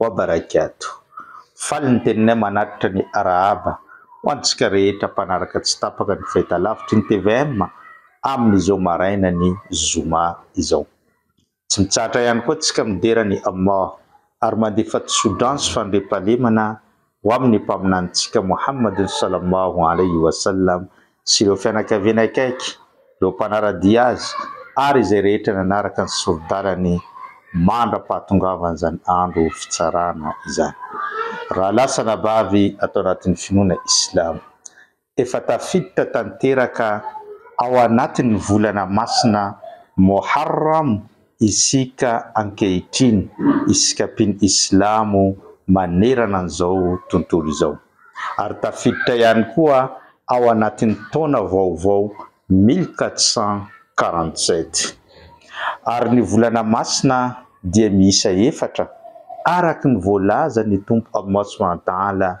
Wa barakatuh. Faly ny teninay manatitra ny arahaba ho antsika rehetra mpanaraka tsy tapaka ny fahitalavitry ny tvm amin'izao maraina ny zoma izao. Tsy mitsahatra ihany koa tsika midera ny Allah ary mandefa tso-drano sy fandriampahalemana ho amin'ny Mpaminanintsika Mohammad Sallallahu Alaihi Wasallam sy ireo fianakaviany akaiky, ireo mpanara-dia azy ary izay rehetra nanaraka ny sori-dalany mandra-pahatongavan'izany Andro Fitsarana izany. Rahalahy sy anabavy ato anatin'ny finoana Islamo. Efa tafiditra tanteraka ao anatin'ny volana masina Moharram isika ankehitriny, isika mpino islamo manerana an'izao tontolo izao. Ary tafiditra ihany koa ao anatin'ny taona vaovao mille quatre cent quarante sept. Ary ny volana masina dia miisa efatra, araka ny voalazan'ny Tompo Allah Subhanahu wa Ta'ala,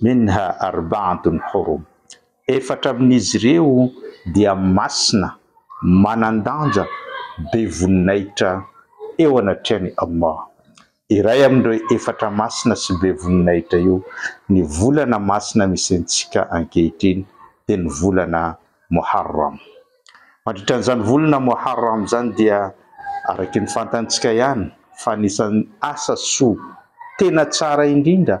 Minha arba'atun hurum, efatra amin'izy ireo dia masina, manan-danja, be voninahitra eo anatrehan'i Allah. Iray amin'ireo efatra masina sy be voninahitra io, ny volana masina misy antsika ankehitriny, dia ny volana Muharram. Mandritra an'izany volana Muharram izany dia, araky ny fantantsika ihany fa anisan'ny asa soa tena tsara indrindra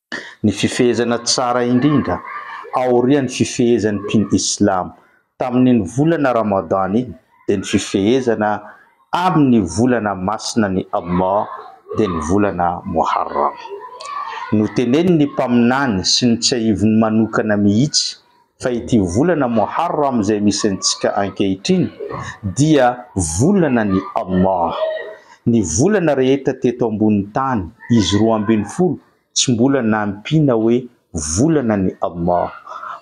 Ny fifehezana tsara indrindra aorian'ny fifehezan'ny mpino islam tamin'iny volana Ramadan iny dia ny fifehezana amin'ny volana masinan'i Allah dia ny volana Muharram. Notenenin'ny Mpaminany sy notsiahiviny manokana mihitsy Fa ity volana Moharram izay misy antsika ankehitriny dia volana ny Allah. Ny volana rehetra teto ambonin'ny tany, izy roa ambin'ny folo, tsy mbola nampiana hoe volana ny Allah.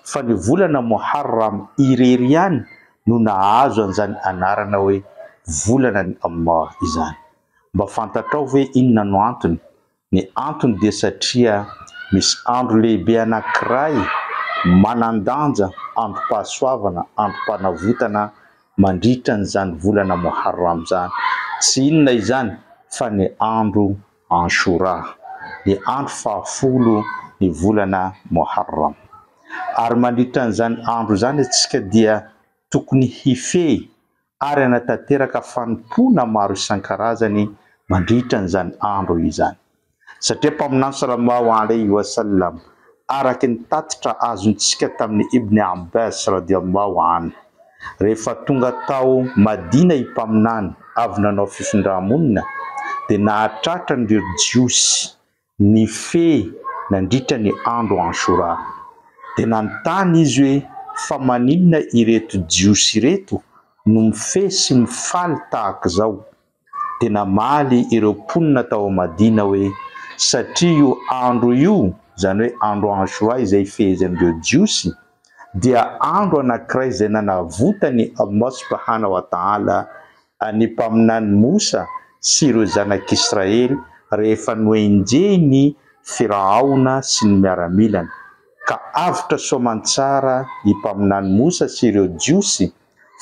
Fa ny volana Moharram irery ihany no nahazo an'izany anarana hoe volana ny Allah izany. Mba fantatrao ve inona no antony? Ny antony dia satria misy andro lehibe anankiray manan-danja, androm-pahasoavana, androm-panavotana mandritra an'izany volana Moharram izany. Tsy inona izany fa ny andro Anshura, ny andro fahafolo ny volana Moharram. Ary mandritra an'izany andro izany isika dia tokony hifehy ary hanatanteraka fanompoana maro isan-karazany mandritra an'izany andro izany. Satria Mpaminany Salallahu alaihi wa sallam, araka ny tatitra azontsika tamin'i Ibn Abbas radiallahu anhu, rehefa tonga tao Madina i Mpaminany avy nanao fifindrà-monina, dia nahatratra an'ireo Jiosy, Nifehy nandritra ny andro Ashura. Dia nanontany izy hoe, Fa maninona ireto Jiosy ireto no mifehy sy mifaly tahaka izao? Dia namaly ireo mponina tao Madina hoe, Satria io andro io, izany hoe andro Ashura izay ifehezin'ireo Jiosy, dia andro anankiray izay nanavotan'i Allah subhanahu wa ta'ala Ny mpaminany Mosa sy ireo zanak'Israely rehefa nohenjehin' ny Firahaona sy ny miaramilany, ka avotra soamantsara ny mpaminany Mosa sy ireo Jiosy,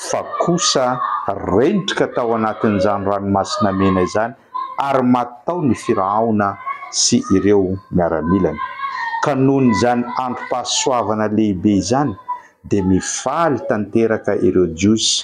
fa kosa rendrika tao anatin'izany Ranomasina Mena izany, ary maty tao ny Firahaona sy ireo miaramilany. Ka noho izany androm-pahasoavana lehibe izany, dia mifaly tanteraka ireo Jiosy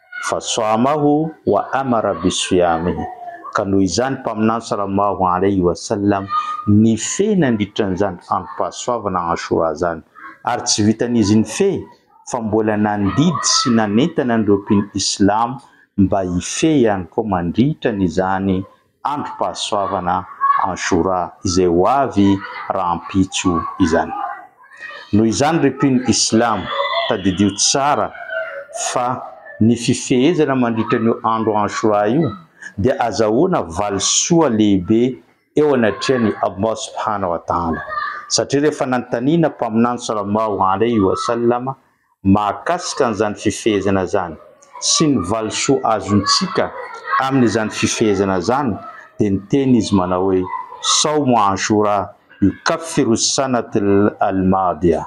Fa soamaho wa ama Rabbi swiami ka noho izany Mpaminany salallahu alaihi wa sallam nifehy nandritra an'izany androm-pahasoavana Ashura izany, ary tsy vitan'izy nifehy fa mbola nandidy sy nanentana an'ireo mpino islamo mba hifehy ihany koa mandritra an'izany androm-pahasoavana en Jura izay ho avy rahampitso izany. Noho izany ry mpino islamo, tadidio tsara fa ny fifehezana mandritra an'io andro Ashura io dia azahoana valisoa lehibe eo anatrehan'i Allah subhanahu wa ta'ala, satria rehefa nanontaniana Mpaminany sallallahu alaihi wa sallam mahakasika an'izany fifehezana izany sy ny valisoa azontsika amin'izany fifehezana izany dia niteny izy manao hoe, Saomo Ashura yukaffiru as-sanat al-madiyah,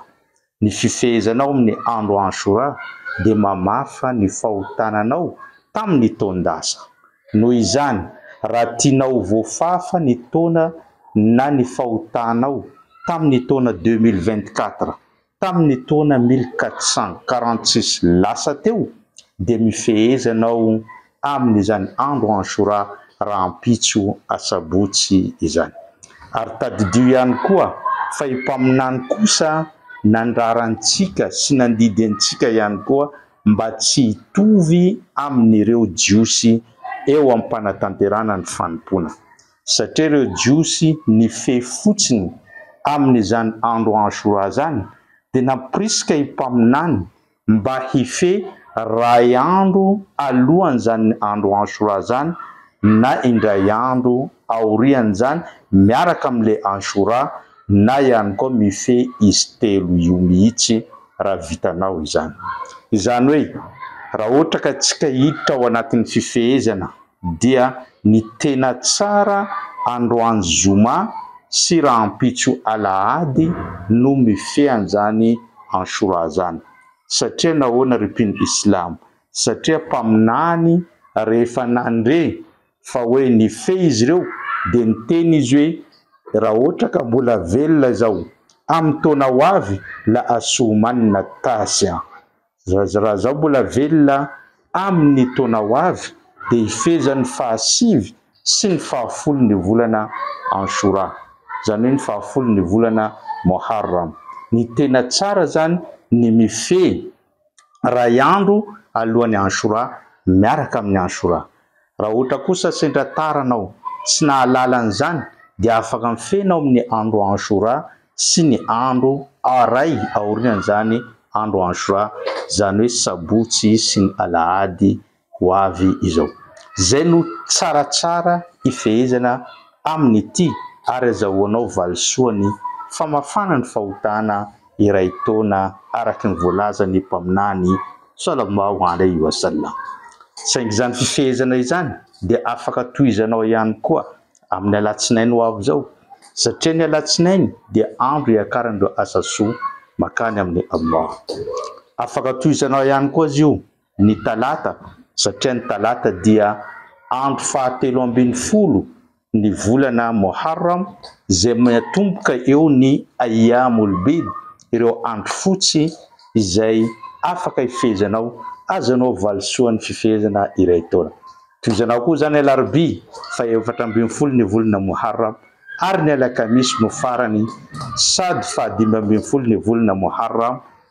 Ny fifehezanao amin'ny andro Ashura dia mamafa ny fahotananao tamin'ny taon-dasa. Noho izany, raha tianao ho voafafa ny taona na ny fahotanao tamin'ny taona deux mille vingt-quatre, Tamin' ny taona mille quatre cent quarante six lasa teo dia mifehezana ao amin' izany andro Anshura rahampitso Asabotsy izany. Ary tadidio ihany koa fa i Mpaminany kosa nandrara antsika sy nandidy antsika ihany koa mba tsy hitovy amin' ireo Jiosy eo amin-panatanterahana ny fanompoana. satria ireo Jiosy nifehy fotsiny amin'izany andro Ashura izany dia nampirisika i mpaminany mba hifehy ray andro alohan'izany andro Ashura izany na indray andro aorian'izany miaraka amin'ilay Ashura na ihany koa mifehy izy telo io mihitsy raha vitanao izany. Izany hoe raha ohatra ka tsika hiditra ao anatin'ny fifehezana dia ny tena tsara androany zoma sy rahampitso alahady no mifehy anzany Anshura zany satria nahoana ry mpino islam satria mpaminany rehefa nandre fa hoe nifehy izy ireo dia niteny izy hoe raha ohatra ka mbola velona izao amin'ny taona ho avy la asuumanna at-tasi'a Zaza raha zaho mbola velona amin ny taona ho avy dia hifeja ny faha sivy sy ny faha folo ny volana Anshura, zany hoe ny faha folo ny volana Moharram. Ny tena tsara zany ny mifehy ray andro alohan ny Anshura miaraka amin ny Anshura. Raha ohatra kosa sendra tara anao, tsy nahalala an'izany, dia afaka mifehy ao amin'ny andro Ashura sy ny andro aray aorian'izany andro Ashura, izany hoe sabotsy sy ny alahady ho avy izao. Izay no tsaratsara hifehezana amin'ity ary azahoanao valisoa ny famafana ny fahotana iray taona araka ny voalazan'ny Mpaminany Sallallahu alaihi wa sallam. Saingy izany fifehezana izany dia afaka tohizanao ihany koa amin'ny Alatsinainy ho avy izao, satria ny Alatsinainy dia andro iakaran'ireo asa soa makany amin'i Allah. Afaka tohizanao ihany koa aza io ny Talata, satria ny Talata dia andro fahatelo ambin'ny folo ny volana Moharram, izay miatomboka eo ny Ayyam-ul-Bid, ireo andro fotsy izay afaka ifehezanao, azonao valisoa ny fifehezana iray taona. Tohizanao koa izany ny Alarobia, fahefatra ambin'ny folo ny volana Moharram, ary ny Alakamisy no farany, Sad, fahadimy ambin'ny folo ny volana Moharram,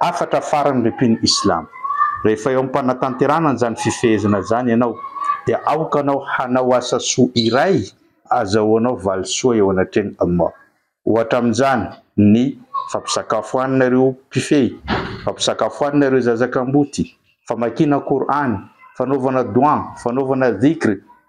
Hafatra farany ry mpino Islam, rehefa eo am-panatanterahana an'izany fifehezana izany ianao dia aoka anao hanao asa soa iray azahoanao valisoa eo anatrehan'i Allah. Ohatra amin'izany ny fampisakafoanana ireo mpifehy, fampisakafoanana ireo zaza kamboty, famakiana Kor'any, fanaovana doua, fanaovana dhikr,